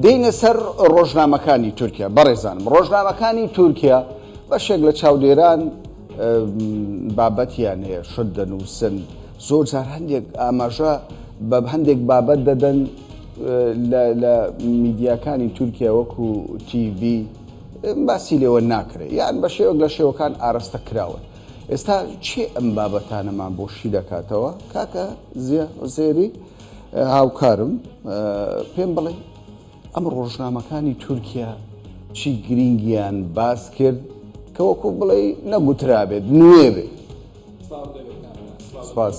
دێینە سەر ڕۆژنامەکانی تورکیا بەڕێزانم ڕۆژنامەکانی تورکیا بەشێک لە چاودێران بابەتیان هەیە شت دەنووسن زۆر جار هەندێک ئاماژە بە هەندێک بابەت دەدەن لە میدیاکانی تورکیا وەکو TV باسی لێوە ناکرێت یان بە شێوەک لە شێوەکان ئارەستە کراون ئێستا چی ئەم بابەتانەمان بۆ شی دەکاتەوە کاکە زیێری؟ هاوکارم پێم بڵێ ئەم ڕۆژنامەکانی تورکیا چی گرینگیان باس کرد کە وەکو بڵێ نەگوترابێت نوێ بێت سپاس.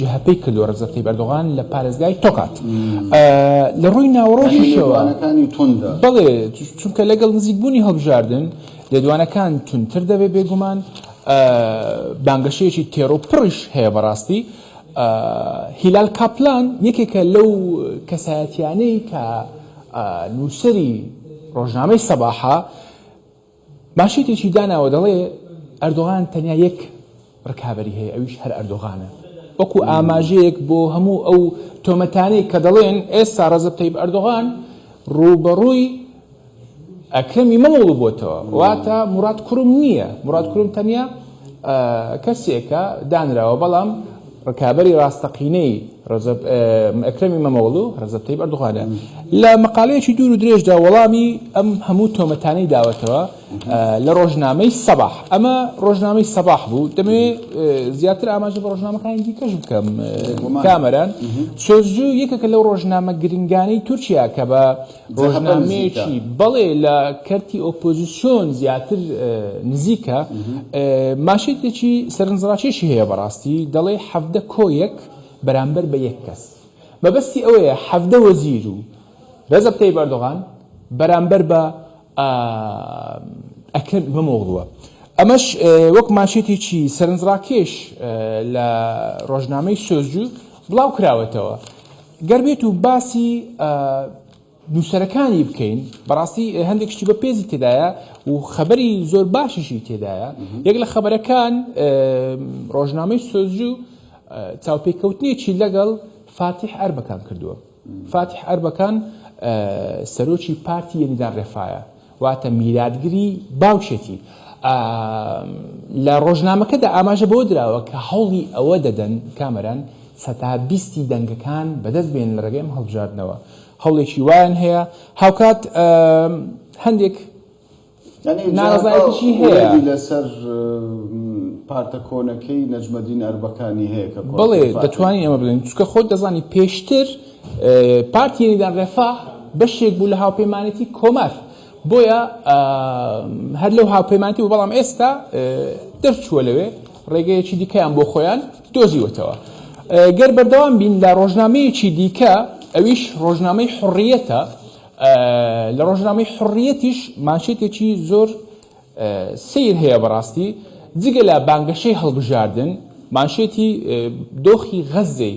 جەهەپەی کردووە رەجەب تەیب ئەردۆغان لە پارێزگای تۆکات لە رووی ناوەڕۆکیشەوە بەڵێ چونکە لەگەڵ نزیک بوونی هەڵبژاردن لێدوانەکان توندتر دەبێت بێگومان بانگەشەیەکی تێرۆ پڕیش هەیە بەڕاستی هیلال کاپلان یەکێکە لەو کەسایەتیانەی کە نووسری رۆژنامەی سەباحە مانشێتێکی داناوە دەڵێ، ئەردۆغان تەنیا یەک رکابەری هەیە ئەویش هەر ئەردۆغانە، وەکو ئاماژەیەک بۆ هەموو ئەو تۆمەتانەی کە دەڵێن ئێستا رەجەب تەیب ئەردۆغان رووبەڕووی ئەکرەم ئیمەمۆغڵو بۆتەوە، واتە موراد کروم نییە، موراد کروم تەنیا کەسێکە دانراوە، بەڵام. ڕکابەری ڕاستەقینەی ڕەجەب ئەکرەمی مەمەوڵو ڕەجەب تەیب ئەردوغانە لە مەقالەیەکی دوور و درێژدا وەڵامی ئەم هەموو تۆمەتانەی داوەتەوە لە ڕۆژنامەی سەباح ئەمە ڕۆژنامەی سەباح بوو دەمێ زیاتر ئاماژە بە ڕۆژنامەکانی دیکەش بکەم کامەران سۆزجو یەکەکە لەو ڕۆژنامە گرنگانەی تورکیا کە بە ڕۆژنامەیەکی بەڵێ لە کەرتی ئۆپۆزیسیۆن زیاتر نزیکە، ماشێتێکی سەرنجڕاکێشی هەیە بەڕاستی، دەڵێ حەڤدە کۆیەک بەرامبەر بە یەک کەس. مەبەستی ئەوەیە حەڤدە وەزیر و رەجەب تەیب ئەردۆغان بەرامبەر بە ئەکرەم ئیمامۆغڵوە. ئەمەش وەک ماشێتێکی سەرنجڕاکێش لە ڕۆژنامەی سۆزجو بڵاوکراوەتەوە. گەر بێت و باسی نووسەرەکانی بکەین بەڕاستی هەندێک شتی بە پێزی تێدایە و خەبەری زۆر باشیشی تێدایە یەک لە خەبەرەکان ڕۆژنامەی سۆزجو چاوپێکەوتنێکی لەگەڵ فاتیح ئەربەکان کردووە فاتیح ئەربەکان سەرۆکی پارتی یەنیدان ڕێفاە واتە میراتگری باوکێتی. ئا لە ڕۆژنامەکەدا ئاماژە بەوە دراوە کە هەوڵی ئەوە دەدەن کامەران سەتا بیستی دەنگەکان بەدەست بێنن لە ڕێگەی ئەم هەڵبژاردنەوە هەوڵێکی وایان هەیە هاوکات هەندێک ناڕەزایەتیشی هەیە. یعنی جا ئەو ئومێدی لەسەر پارتە کۆنەکەی نەجمەدین ئەربەکانی هەیە کە کۆنسوڵ فاتیح. بەڵێ دەتوانین ئێمە بڵێین چونکە خۆت دەزانی پێشتر. پارتی یەنیدان ڕێفاه بەشێک بوو لە هاوپەیمانێتی کۆمار بۆیە هەر لەو هاوپەیمانتی بوو بەڵام ئێستا دەرچووە لەوێ ڕێگەیەکی دیکەیان بۆ خۆیان دۆزیوەتەوە گەر بەردەوام بین لە ڕۆژنامەیەکی دیکە ئەویش ڕۆژنامەی حڕیەتە لە ڕۆژنامەی حڕیەتیش مانشێتێکی زۆر سیر هەیە بەڕاستی جگە لە بانگەشەی هەڵبژاردن مانشێتی دۆخی غەزەی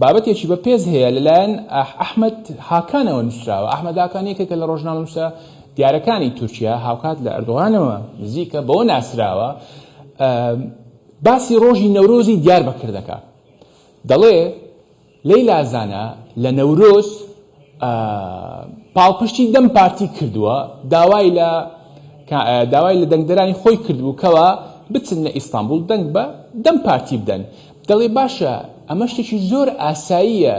بابەتێکی بە پێز هەیە لەلایەن ئەحمەد هاکانەوە نووسراوە، ئەحمەد هاکان یەکێکە لە ڕۆژنامەنووسە دیارەکانی تورکیا، هاوکات لە ئەردۆغانەوە نزیکە، بەوە ناسراوە باسی ڕۆژی نەورۆزی دیاربەکر دەکات، دەڵێ، لەیلا زانا لە نەورۆز، پاڵپشتی دەم پارتی کردووە، داوای لە داوای لە دەنگدەرانی خۆی کردبوو کەوا بچن لە ئیستانبوڵ دەنگ بە دەم پارتی بدەن، دەڵێ باشە ئەمە شتێکی زۆر ئاساییە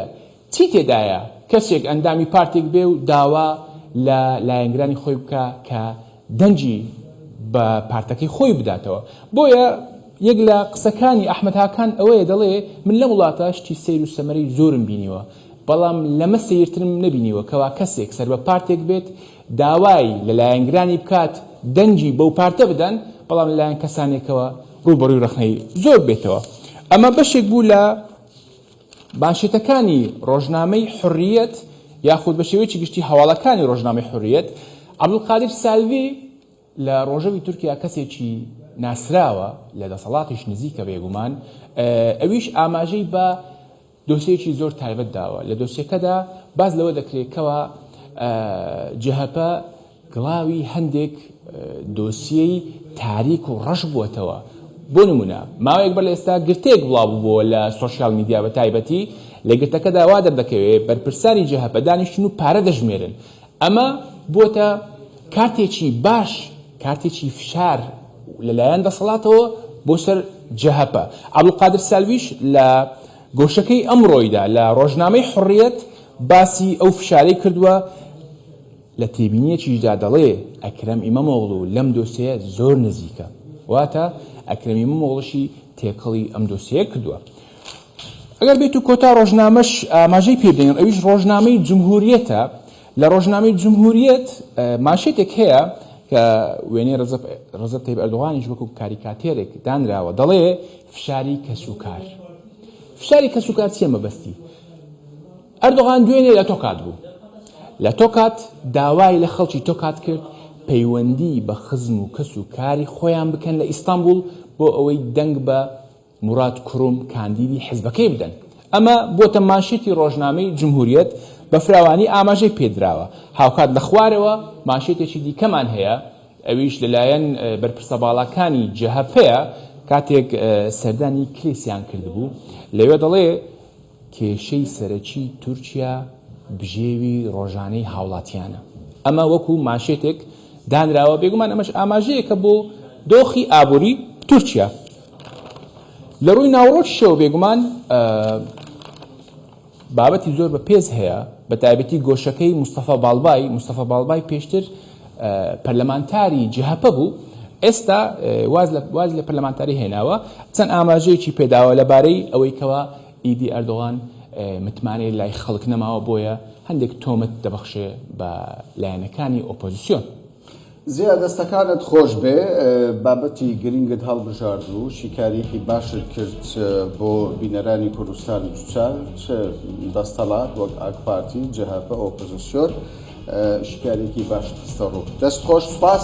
چی تێدایە کەسێک ئەندامی پارتێک بێ و داوا لە لایەنگرانی خۆی بکا کە دەنگی بە پارتەکەی خۆی بداتەوە، بۆیە یەک لە قسەکانی ئەحمەد هاکان ئەوەیە دەڵێ من لەم وڵاتە شتی سەیر و سەمەرەی زۆرم بینیوە، بەڵام لەمە سەیرترم نەبینیوە کەوا کەسێک سەربە پارتێک بێت داوای لە لایەنگرانی بکات دەنگی بەو پارتە بدەن بەڵام لە لایەن کەسانێکەوە ڕووبەڕووی ڕەخنەی زۆر بێتەوە ئەمە بەشێک بوو لە بانشێتەکانی ڕۆژنامەی حڕیەت یاخود بە شێوەیەکی گشتی هەواڵەکانی ڕۆژنامەی حڕیەت عەبدولقادر سالڤی لە ڕۆژەوی تورکیا کەسێکی ناسراوە لە دەسەڵاتیش نزیکە بێگومان ئەویش ئاماژەی بە دۆسیەیەکی زۆر تایبەت داوە، لە دۆسیەکەدا باس لەوە دەکرێت کەوا جەهەپە گڵاوی هەندێک دۆسیەی تاریک و ڕەش بووەتەوە، بۆ نموونە ماوەیەک بەر لە ئێستا گرتەیەک بڵاو ببووە لە سۆشیال میدیا بە تایبەتی لە گرتەکەدا وا دەردەکەوێت بەرپرسانی جەهەپە دانیشتون و پارە دەژمێرن، ئەمە بووەتە کارتێکی باش، کارتێکی فشار لەلایەن دەسەڵاتەوە بۆ سەر جەهەپە. عەبدولقادر سالویش لە گۆشەکەی ئەمڕۆیدا لە ڕۆژنامەی حوڕیەت باسی ئەو فشارەی کردووە، لە تێبینییەکیشدا دەڵێ ئەکرەم ئیمەمۆغڵو لەم دۆسێیە زۆر نزیکە، واتە ئەکرەم ئیمەمۆغڵشی تێکەڵی ئەم دۆسێیە کردووە. ئەگەر بێت و کۆتا ڕۆژنامەش ئاماژەی پێ بدەین ئەویش ڕۆژنامەی جمهوریەتە لە ڕۆژنامەی جمهوریەت ماشێتێک هەیە کە وێنەی ڕزب تەیب ئەردوغانیش وەکو کاریکاتێرێک دانراوە دەڵێ فشاری کەسوکار فشاری کەسوکار چیە مەبەستی ئەردوغان دوێنێ لە تۆکات بوو لە تۆکات داوای لە خەڵکی تۆکات کرد پەیوەندی بە خزم و کەس و کاری خۆیان بکەن لە ئیستانبول بۆ ئەوەی دەنگ بە موراد کروم کاندیدی حزبەکەی بدەن. ئەمە بووەتە مانشێتی رۆژنامەی جمهوریەت، بە فراوانی ئاماژەی پێدراوە. هاوکات لە خوارەوە مانشێتێکی دیکەمان هەیە، ئەویش لەلایەن بەرپرسە باڵاکانی جەهەپەیە، کاتێک سەردانی کلیسیان کردبوو، لەوێ دەڵێ، کێشەی سەرەکی تورکیا بژێوی ڕۆژانەی هاوڵاتیانە، ئەمە وەکو مانشێتێک دانراوە، بێگومان ئەمەش ئاماژەیەکە بۆ دۆخی ئابوری تورکیا لە ڕووی ناوەڕۆکیشەوە، بێگومان بابەتی زۆر بە پێز هەیە بە تایبەتی گۆشەکەی مستەفا باڵبای، مستەفا باڵبای پێشتر، پەرلەمانتاری جەهەپە بوو، ئێستا واز لە پەرلەمانتاری هێناوە، چەند ئاماژەیەکی پێداوە لەبارەی ئەوەی کەوا ئیدی ئەردۆغان متمانەی لای خەڵک نەماوە بۆیە هەندێک تۆمەت دەبەخشێ بە لایەنەکانی ئۆپۆزسیۆن. زیا دەستەکانت خۆش بێ بابەتی گرنگت هەڵبژارد و شیکاریەکی باشت کرد بۆ بینەرانی کوردستان دوچار. چ دەستەڵات وەک ئاکپارتی، جەهەپە، ئۆپۆزسیۆن شیکاریەکی باشی خستەڕوو. دەست خۆش سوپاس.